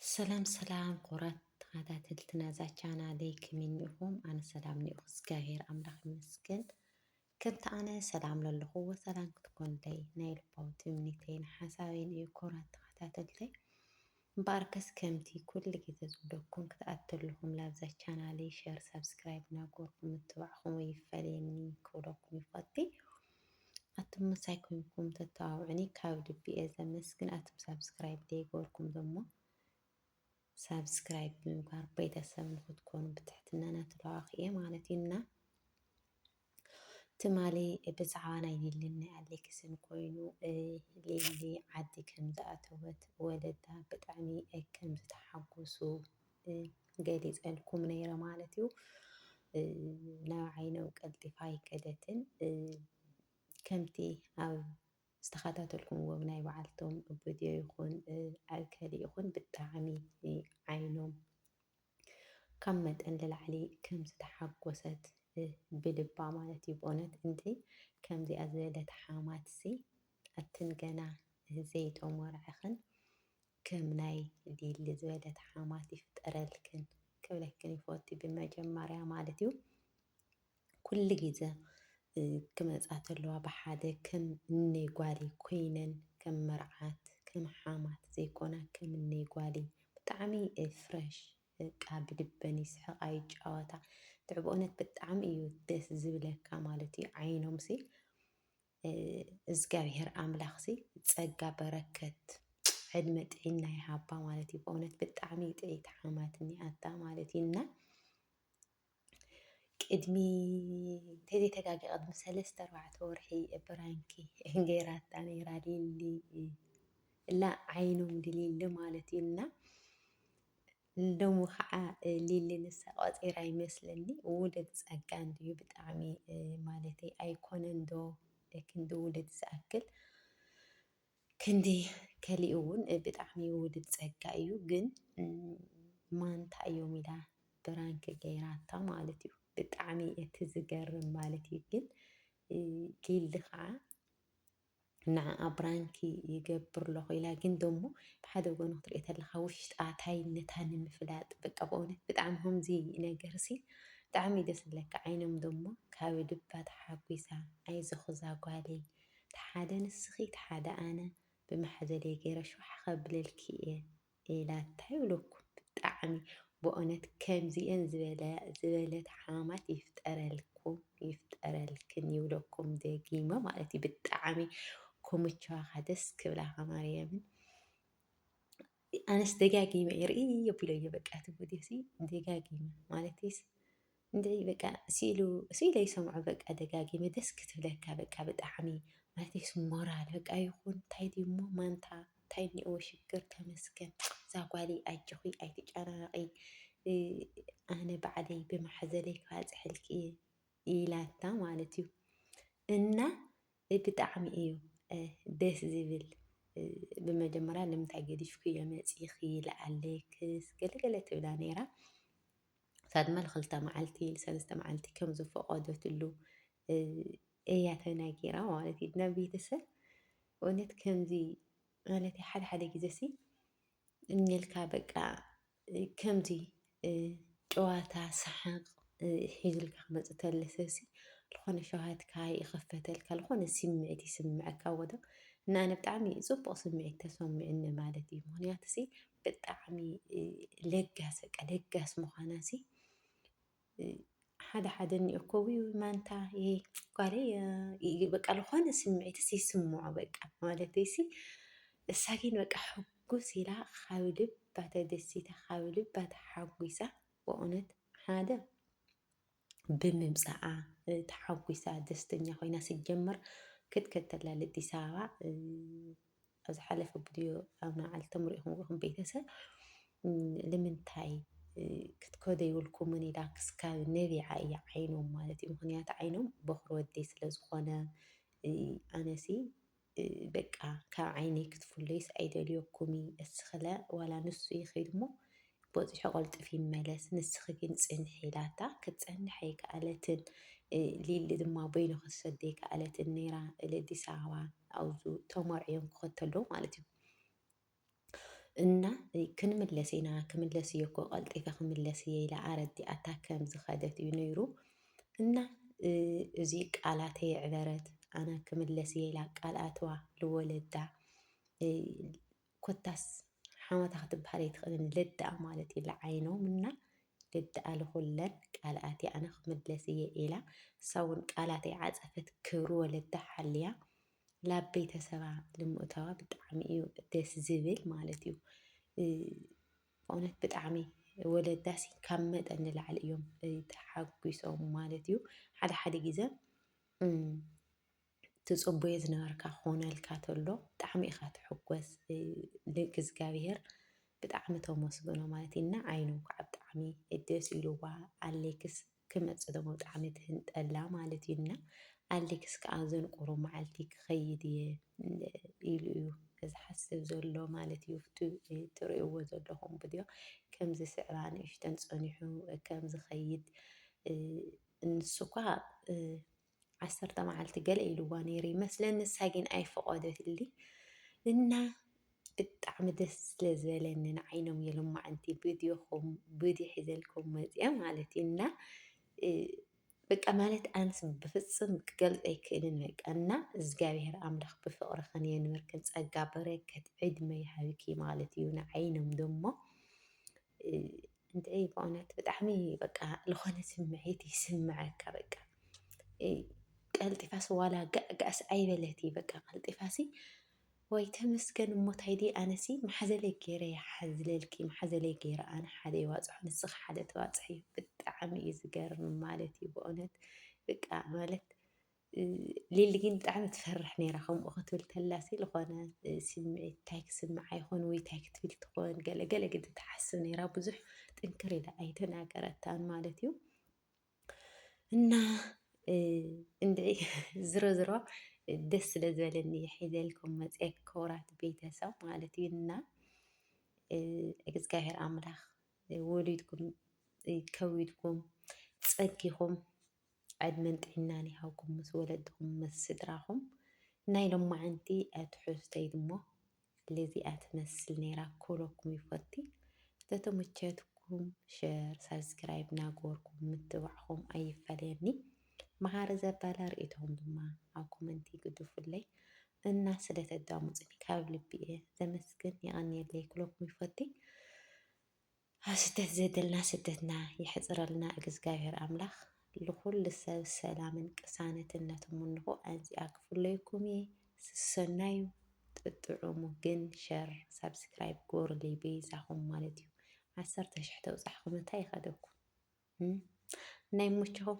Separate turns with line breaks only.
ሰላም ሰላም ክቡራት ተኸታተልቲ ናዛ ቻናለይ ከመይ እኒኹም? ኣነ ሰላም እኒኦኹ እግዚኣብሔር ኣምላኽ ይመስገን። ከምቲ ኣነ ሰላም ለለኹዎ ሰላም ክትኮንለይ ናይ ልባዊ ትምኒተይን ሓሳበይን እዩ ክቡራት ተኸታተልተይ። እምበኣርከስ ከምቲ ኩሉ ግዜ ዝብለኩም ክትኣተልኹም ላብዛ ቻናለይ ሸር ሳብስክራይብ እናገበርኩም ምትባዕኹም ይፈለየኒ ክብለኩም ይፈቲ። ኣቱም ምሳይ ኮይንኩም ተተባብዑኒ ካብ ልቢ እየ ዘመስግን። ኣቱም ሳብስክራይብ ዘይገበርኩም ደሞ ሳብስክራይብ ብምግባር ቤተሰብ ንክትኮኑ ብትሕትና ናትለዋክ እየ ማለት እዩ እና ትማሊ ብዛዕባ ናይ ሊልን ናይ ኣሌክስን ኮይኑ ሊሊ ዓዲ ከም ዝኣተወት ወለዳ ብጣዕሚ ከም ዝተሓጎሱ ገሊፀልኩም ነይረ ማለት እዩ። ናብ ዓይነው ቀልጢፋ ኣይከደትን ከምቲ ኣብ ዝተኸታተልኩምዎም ናይ በዓልቶም ቪድዮ ይኹን ኣብ ከሊ ይኹን ብጣዕሚ ዓይኖም ካብ መጠን ልላዕሊ ከም ዝተሓጎሰት ብልባ ማለት እዩ ብእውነት እንዲ ከምዚኣ ዝበለት ሓማትሲ ኣትን ገና ዘይተሞርዐኽን ከም ናይ ሊሊ ዝበለት ሓማት ይፍጠረልክን ክብለክን ይፎቲ ብመጀመርያ ማለት እዩ ኩሉ ግዘ ክመፃ ተለዋ ብሓደ ከም እነይ ጓሊ ኮይነን ከም መርዓት ከም ሓማት ዘይኮና ከም እነይ ጓሊ ብጣዕሚ ፍረሽ በቃ ብድበን ይስሕቃ ይጫወታ ትዕብኦነት ብጣዕሚ እዩ ደስ ዝብለካ ማለት እዩ ዓይኖምሲ እዝጋብሄር ኣምላኽሲ ጸጋ በረከት ዕድመ ጥዒና ይሃባ ማለት እዩ። በእውነት ብጣዕሚ ጥዒት ሓማት እኒኣታ ማለት እዩ እና ቅድሚ እንተዘይተጋጊ ቅድሚ ሰለስተ ኣርባዕተ ወርሒ ብራንኪ ገይራታ ነይራ ሊሊ እላ ዓይኖም ድሊሊ ማለት እዩ እና ንደሙ ከዓ ሊሊ ንሳ ቆፂራ ይመስለኒ ውሉድ ፀጋ እንድዩ ብጣዕሚ ማለተይ ኣይኮነን ዶ ክንዲ ውሉድ ዝኣክል ክንዲ ከሊእ እውን ብጣዕሚ ውሉድ ፀጋ እዩ ግን ማንታ እዮም ኢላ ብራንክ ገይራታ ማለት እዩ ብጣዕሚ እቲ ዝገርም ማለት እዩ ግን ሊሊ ከዓ ንዓኣ ብራንኪ ይገብር ኣለኹ ኢላ ግን ደሞ ብሓደ ጎኑ ክትሪኦ ተለኻ ውሽጣ ታይነታ ንምፍላጥ በቃ በእውነት ብጣዕሚ ከምዚ ነገርሲ ብጣዕሚ ደስ ዝብለካ ዓይኖም ደሞ ካብ ልባ ተሓጒሳ ኣይዞኺ ዛጓለይ ተሓደ ንስኺ ተሓደ ኣነ ብማሕዘለይ ገይረ ሽውሓ ከብለልኪ እየ ሌላ እንታይ እብለኩም ብጣዕሚ በእውነት ከምዚኤን ዝበለት ሓማማት ይፍጠረልኩም ይፍጠረልክን ይብለኩም ደጊመ ማለት እዩ ብጣዕሚ ክምችዋካ ደስ ክብላካ ማርያምን ኣነስ ደጋጊመ እየ ርእየዮ ኣቢለዮ በቃ እቲ ቪድዮሲ ደጋጊመ ማለተይስ እንድዒ በቃ ሲኢሉ ሲኢለ ይሰምዖ በቃ ደጋጊመ ደስ ክትብለካ በቃ ብጣዕሚ ማለተይስ ሞራል በቃ ይኹን ታይ ድዩሞ ማንታ ታይ እኒኦዎ ሽግር ተመስገን ዛጓለይ ኣጆኺ ኣይትጨናነቒ ኣነ ባዕለይ ብማሕዘለይ ክባፅሐልኪ እየ ኢላታ ማለት እዩ እና ብጣዕሚ እዩ ደስ ዝብል ብመጀመርያ ንምንታይ ገዲፍክዮ መፂኺ ለኣሌክስ ገለገለ ትብላ ነይራ ሳድመ ልክልተ መዓልቲ ልሰለስተ መዓልቲ ከም ዝፈቐደትሉ እያ ተናጊራ ማለት እዩ ናብ ቤተሰብ እውነት ከምዚ ማለት ሓደ ሓደ ግዜ ሲ እኝልካ በቃ ከምዚ ጨዋታ ሰሓቅ ሒዙልካ ክመፅ ተለ ሰብሲ ዝኾነ ሸውሃትካ ይኽፈተልካ ዝኾነ ስምዒት ይስምዐካ ወዶ እና ኣነ ብጣዕሚ ፅቡቅ ስምዒት ተሰሚዑኒ ማለት እዩ ምክንያቱ ሲ ብጣዕሚ ለጋስ በቃ ለጋስ ምዃና ሲ ሓደ ሓደ እኒኦ እኮ ውይ ማንታ ይሄ ጓሌ በቃ ዝኾነ ስምዒት ሲ ይስምዖ በቃ ማለት ሲ እሳ ግን በቃ ሕጉስ ኢላ ካብ ልባ ተደሲታ ካብ ልባ ተሓጒሳ በእውነት ሓደ ብምምጻኣ ተሓጒሳ ደስተኛ ኮይና ስጀምር ክትከተላ ለጢሳ ኣባ ኣብ ዝሓለፈ ቪድዮ ኣብ ንዓልቶም ርኢኹም ርኹም ቤተሰብ ንምንታይ ክትከዶ ይብልኩምን ኢላ ክስካብ ነቢዓ እያ ዓይኖም ማለት እዩ ምክንያቱ ዓይኖም በኩሪ ወደይ ስለ ዝኾነ ኣነሲ በቃ ካብ ዓይነይ ክትፍሎይስ ኣይደልዮኩሚ እስክለ ዋላ ንሱ ይኺድ እሞ ቦጺሑ ቀልጡፍ ይመለስ ንስኺ ግን ጽንሒ ኢላታ ክትጸንሕ ኣይከኣለትን ሊሊ ድማ በይኑ ክትሰዶ ኣይከኣለትን ነይራ እለ ኣዲስ ኣበባ ኣብዙ ተመርዕዮም ክኸተሎ ማለት እዩ እና ክንምለስ ኢና ክምለስ እየ እኮ ቀልጢፈ ክምለስ እየ ኢላ ኣረዲኣታ ከም ዝኸደት እዩ ነይሩ እና እዚ ቃላት የዕበረት ኣነ ክምለስ እየ ኢላ ቃል ኣትዋ ልወለዳ ኮታስ ሓመታ ክትበሃል ኣይትኽእልን ልድኣ ማለት እዩ ልዓይኖም እና ልድኣ ልኹለን ቃልኣት ኣነ ክምለስ እየ ኢላ እሳ እውን ቃላት ኣይዓፀፈት ክብሪ ወለዳ ሓልያ ላብ ቤተሰባ ልምእታዋ ብጣዕሚ እዩ ደስ ዝብል ማለት እዩ ብእውነት ብጣዕሚ ወለዳሲ ካብ መጠን ንላዕሊ እዮም ተሓጒሶም ማለት እዩ ሓደ ሓደ ግዘ ትፅቡየ ዝነበርካ ክኾነልካ ተሎ ብጣዕሚ ኢኻ ትሕጎስ ንእግዚኣብሄር ብጣዕሚ ተመስግኖ ማለት እዩ እና ዓይኑ ከዓ ብጣዕሚ ደስ ኢልዋ ኣሌክስ ክመጽእ ደሞ ብጣዕሚ ትህንጠላ ማለት እዩ እና ኣሌክስ ከዓ ዘንቁሩ መዓልቲ ክኸይድ እየ ኢሉ እዩ ዝሓስብ ዘሎ ማለት እዩ ትርእይዎ ዘለኹም ቪድዮ ከምዚ ስዕባ ንእሽተን ፀኒሑ ከም ዝኸይድ ንሱ እኳ ዓሰርተ መዓልቲ ገለ ኢልዋ ነይሩ ይመስለኒ ንሳ ግን ኣይፈቐደትሊ እና ብጣዕሚ ደስ ስለ ዝበለኒ ንዓይኖም የልማዕንቲ ብድኹም ብዲ ሒዘልኩም መፅአ ማለት እዩ እና በቃ ማለት ኣንስ ብፍፅም ክገልፅ ኣይክእልን በቃ እና እግዚኣብሔር ኣምላኽ ብፍቕርኽን የንብርክን ጸጋ በረከት ዕድመ ይሃብኪ ማለት እዩ ንዓይኖም ደሞ እንድዒ ብእውነት ብጣዕሚ በቃ ዝኾነ ስምዒት ይስምዓካ በቃ ቀልጢፋስ ዋላ ጋዕጋዕስ ኣይበለት እዩ በቃ ቀልጢፋሲ ወይ ተመስገን እሞ ታይ ድየ ኣነሲ ማሓዘለይ ገይረ እየ ሓዝለልኪ ማሓዘለይ ገይረ ኣነ ሓደ ይዋፅሖ ንስኺ ሓደ ተዋፅሕዮ ብጣዕሚ እዩ ዝገርም ማለት እዩ ብእውነት በቃ ማለት ሊሊ ግን ብጣዕሚ ትፈርሕ ነይራ ከምኡ ክትብል ተላሲ ዝኾነ ስምዒት እንታይ ክስምዓ ይኾን ወይ እንታይ ክትብል ትኾን ገለ ገለ ግዲ ትሓስብ ነይራ ብዙሕ ጥንክር ኢላ ኣይተናገረታን ማለት እዩ እና እንድዒ ዝሮ ዝሮ ደስ ስለ ዝበለኒ ሒዘልኩም መፀ ክብራት ቤተሰብ ማለት እዩ እና እግዚኣብሔር ኣምላኽ ወሊድኩም ከዊድኩም ፀጊኹም ዕድመን ጥዒናን ይሃብኩም ምስ ወለድኹም ምስ ስድራኹም ናይ ሎማዓንቲ ትሕዝቶይ ድሞ ልዚኣ ትመስል ነይራ ክብለኩም ይፎቲ ተተመቸትኩም ሸር ሳብስክራይብ ናገበርኩም ምትብባዕኹም ኣይፈለየኒ ማሃሪ ዘበለ ሪኢቶኹም ድማ ኣብ ኮመንቲ ግዱፉለይ እና ስለ ተዳሙፁኒ ካብ ልቢ እየ ዘመስግን የቀንየለይ ክብለኩም ይፎቲ። ኣብ ስደት ዘደልና ስደትና የሕፅረልና እግዝጋብሔር ኣምላክ ልኩሉ ሰብ ሰላምን ቅሳነትን ነትምንኩ ኣዚኣ ክፍለየኩም እየ ስሰናዩ ጥጥዑሙ ግን ሸር ሳብስክራይብ ግበሩለይ በይዛኩም ማለት እዩ ዓሰርተ ሽሕ ተብፃሕኩም እንታይ ይከደኩም ናይሞችኩም